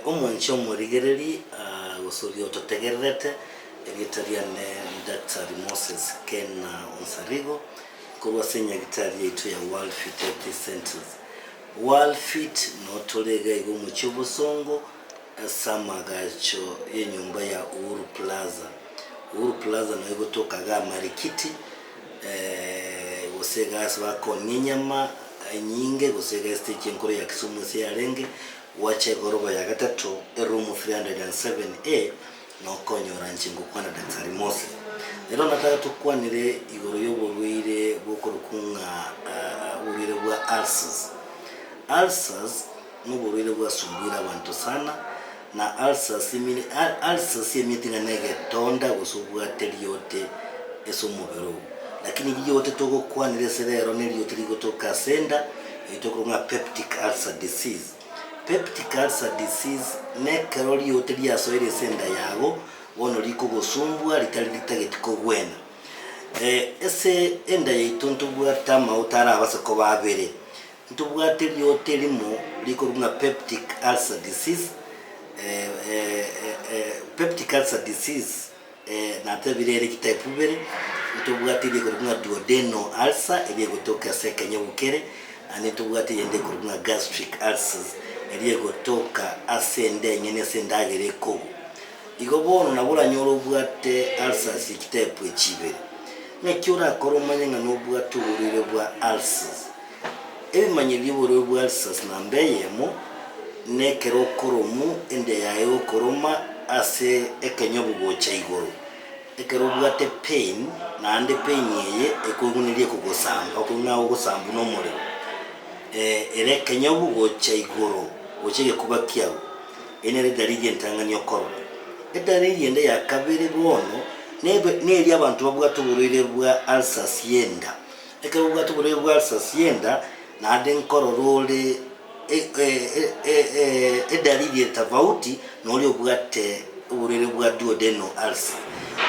Omonche omorigereri agosoria ototegererete, erieta riane Daktari Moses Ken Onsarigo, nkorwa ase enyagitari yaito ya World Fit Healthy Centres. World Fit noo tore iga iga omochie obosongo ase amagacho y'enyomba ya Uhuru Plaza. Uhuru Plaza noo igo tokaga amarikiti. gose egasi bakong'ia enyama enyinge gose egesiti echi enkoro ya Kisumu ase yarenge gwacha egorogo ya gatato eroom 307A nokonyora inche ngokwana Daktari Mose. Rero nataka tokwanere igoro yoborwaire bokorokwa ng'a oborwaire bwa ulcers. Ulcers. Noborwaire bwasumbuire abanto sana, na ulcers emiri, ulcers emeti ng'a negetonda gose obwate riote ase omobere oo. Lakini riote togokwanera ase rero neriote rigotoka ase enda, erio tokorwa ng'a peptic ulcer disease. Peptic ulcer disease nekero riote riasoire ase enda yago, bono rikogosumbua ritari ritageti kogwena. Ase enda yaito ntobwate amauta arabase koba abere, Ntobwate eriooto erimo rikorwa ng'a peptic ulcer disease, peptic ulcer disease natebire ere chitype ibere, ntobwate eria ekorwa ng'a duodenal ulcer eria egotoka ase ekenyogo kere, naende ntobwate eyende ekorwa ng'a gastric ulcers eria egotoka ase enda eng'eni ase endagera ekogwa. Igo bono nabo oranyore obwate ulcers ye chitype echi ibere. Naki orakore omanye ng'a nobwate oborwaire bwa ulcers. Ebimanyiro bi'oborwori bwa Alsace namba eyemo nekero okoromu ende yaye gokoroma ase ekenyobu gocha igoro. Ekero obwate pain, naende pain eye ekoiguniria ekogosamba, okonywa ng'a ogosambu nomorero. Ere ekenyobu gocha igoro gocha egekuba kiago. Eye nere edaliri entang'ani okorora. Edaliri ende ya kabere bono nebe neria abanto babwate oborwaire bwa Alsace y'enda. Ekero obwate boria bwa sasienda naende nkorora ore edalili ere tofauti noria obwate oborwaire bwa duodenal ulcer,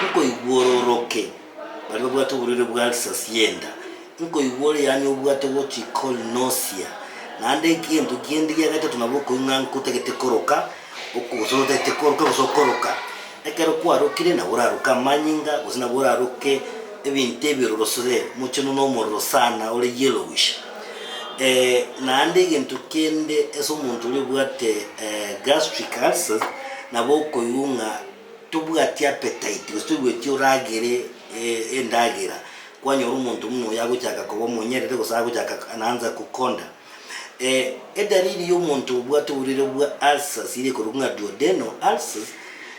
nkoigwa ororoke baria babwate oborwaire bwa sasienda, nkoigwa ore yaani obwate ogochikol nausea, naende egento kende gia gatato nabo okoigwa ng'a ntagete koroka, gose otagete koroka gose okoroka. Ekero kwarokire nabo oraroke amanyinga, gose nabo oraroke ebinto ebi ororosire mochenu nomorero sana ore yellowish. Eh, naende egento kende ase omonto oria obwate eh, gastric ulcers, nabo okoigwa ng'a tobwati appetite gose toigweti oragere eh, endagera. Kwanyora omonto buna oyo agochaka koba omonyerere gose agochaka naanza kokonda. Ee, edalili y'omonto obwate oborwaire bwa ulcers ere ekorokwa ng'a duodenal ulcers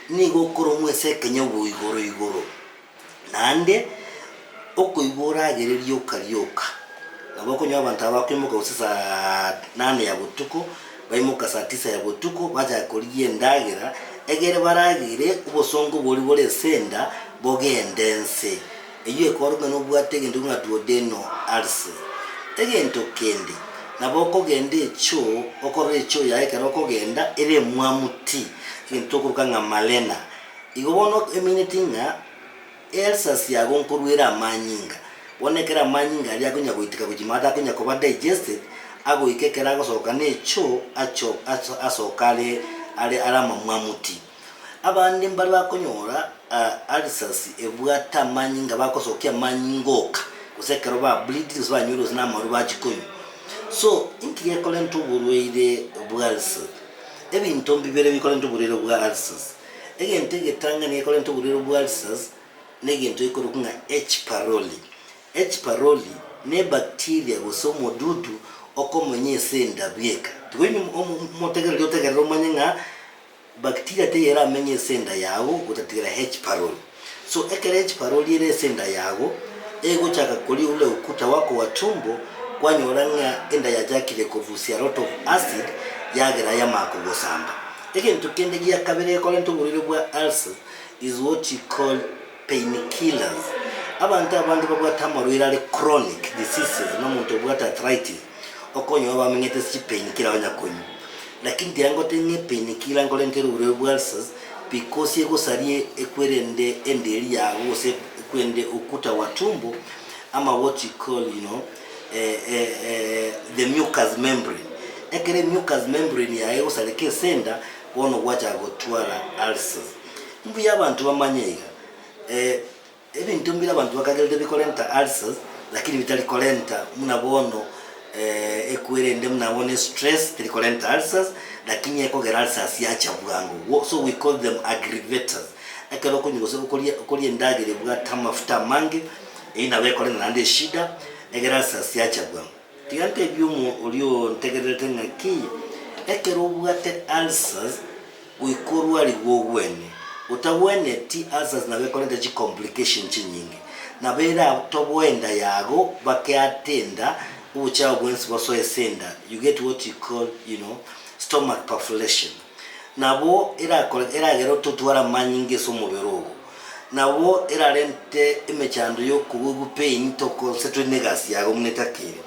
nigo okoromwa ase ekenyabwa igoro igoro, naende okoigwa oragereria okaria oka. Nabo okonyora abanto aba bakoimoka gose saa nane ya botuko, baimoka saa tisa ya botuko bachaka korigia endagera, egere baragere obosongo boria bore ase enda bogende nse. eyio ekorokana nobwate egento buna duodeno arse egento kende, nabo okogenda echo okorora echo yaye ekero okogenda ere emwamu ti egento tokoroka ng'a malena. Igo bono emanyeti ng'a ealsers yago nkorwa ere amanyinga, bono ekero amanyinga aria akonya goiteka gochia mono atakonya koba digested, agoika ekero agosoka necho acho asoka are are amamwamu ti. Abande mbare bakonyora ulcers ebwate amanyinga bakosokia amanyinga ngoka gose ekero ba bleeding gose banywire gose namarwa bachikonywa so inki gekorenta oborwaire bwa ulcers ebinto mbibere bikorenta oborwaire bwa ulcers egento egetang'ani gekorenta oborwaire bwa ulcers negento gekorokwa ng'a Hparoli. Hparoli ne ebacteria gose omodudu okomonya ase endabu eka tiga omotegereri otegerere omanye ng'a. Bacteria teyeramenye ase enda yago gotatigara H. paroli. So ekero H. paroli ere ase enda yago, egochaka koria ule ukuta wako wa tumbo, kwanyora ng'a enda yachakire kobusia lot of acid, yagera yamanya kogosamba. Egento kende gia kabere gekorenta oborwaire bwa ulcer is what you call. painkillers, abanto abande babwate amarwaire are chronic diseases, buna omonto obwate arthritis, okonyoa bamenyete ase chipainkiller banya konywa. Lakini tiga ngotebie ng'a epainkiller nkorente ere oborwaire bwa ulcers, because egosaria ekwerende enderi yago gose ekwerende ukuta wa tumbo, ama what you call you know the mucous membrane. Ekero emucous membrane yago egosareka ase enda, bono gwachaka gotwara ulcers. Mbuya abanto bamanye iga, ee, ebinto mbire abanto bakagerete bikorenta ulcers, lakini bitari korenta buna bono ee, eku erende buna bono estress teri korenta ulcers, lakini ekogera ulcers yacha bwango, wo, so we call them aggravators. Ekero okonywa gose okoria okoria endagera ebwate amafuta amange, eyio nabo ekorenta naende eshida, egere ulcers yacha bwango. Tiga ntebie omonto oria ontegererete ng'aki, ekero obwate ulcers goika orwarigwe ogwene, otagweneti ulcers nabo ekorenta chi complication chinyinge, nabo ere abtoboe enda yago bake ate enda, obochafu bwensi bosoe ase enda, you get what you call, you know, stomach perforation. Nabo erakore eragere ototware amanyinga ase omobere ogo, nabo erarente emechando y'okobogigwa pain tokosetwe negasi yago buna etakiri.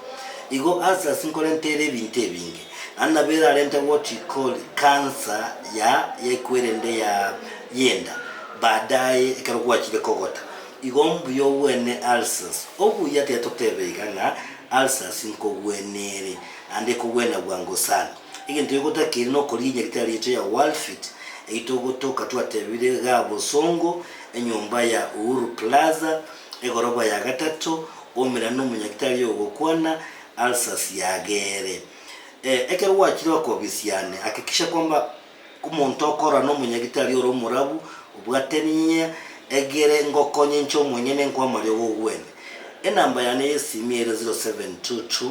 Igo ulcers nkorenta ere ebinto ebinge, naende nabo erarente what we call cancer ya yekwerende ya yenda baadaye ekero gwachire kogota. Igo mbuya ogwene ulcers. Obuya tiga totebe iga ng'a ulcers nkogwene ere, naende ekogwena bwango sana. Egento gegotakeire nokoria enyaga etari yaito ya Walfit eyio togotoka twatebire igaa bosongo, enyomba ya Uhuru Plaza, egoroba ya gatato, omerane nomonyaga etari yogokwana, ulcers yagere. Eh, ekero gwachire okobisiane, hakikisha kwamba omonto okorora nomonyaga etari ore omorabu, obwate ninyinya egere ngokonye inche omonyene nkoe amariogo ogwene. Enamba yane yesimi ere 0722.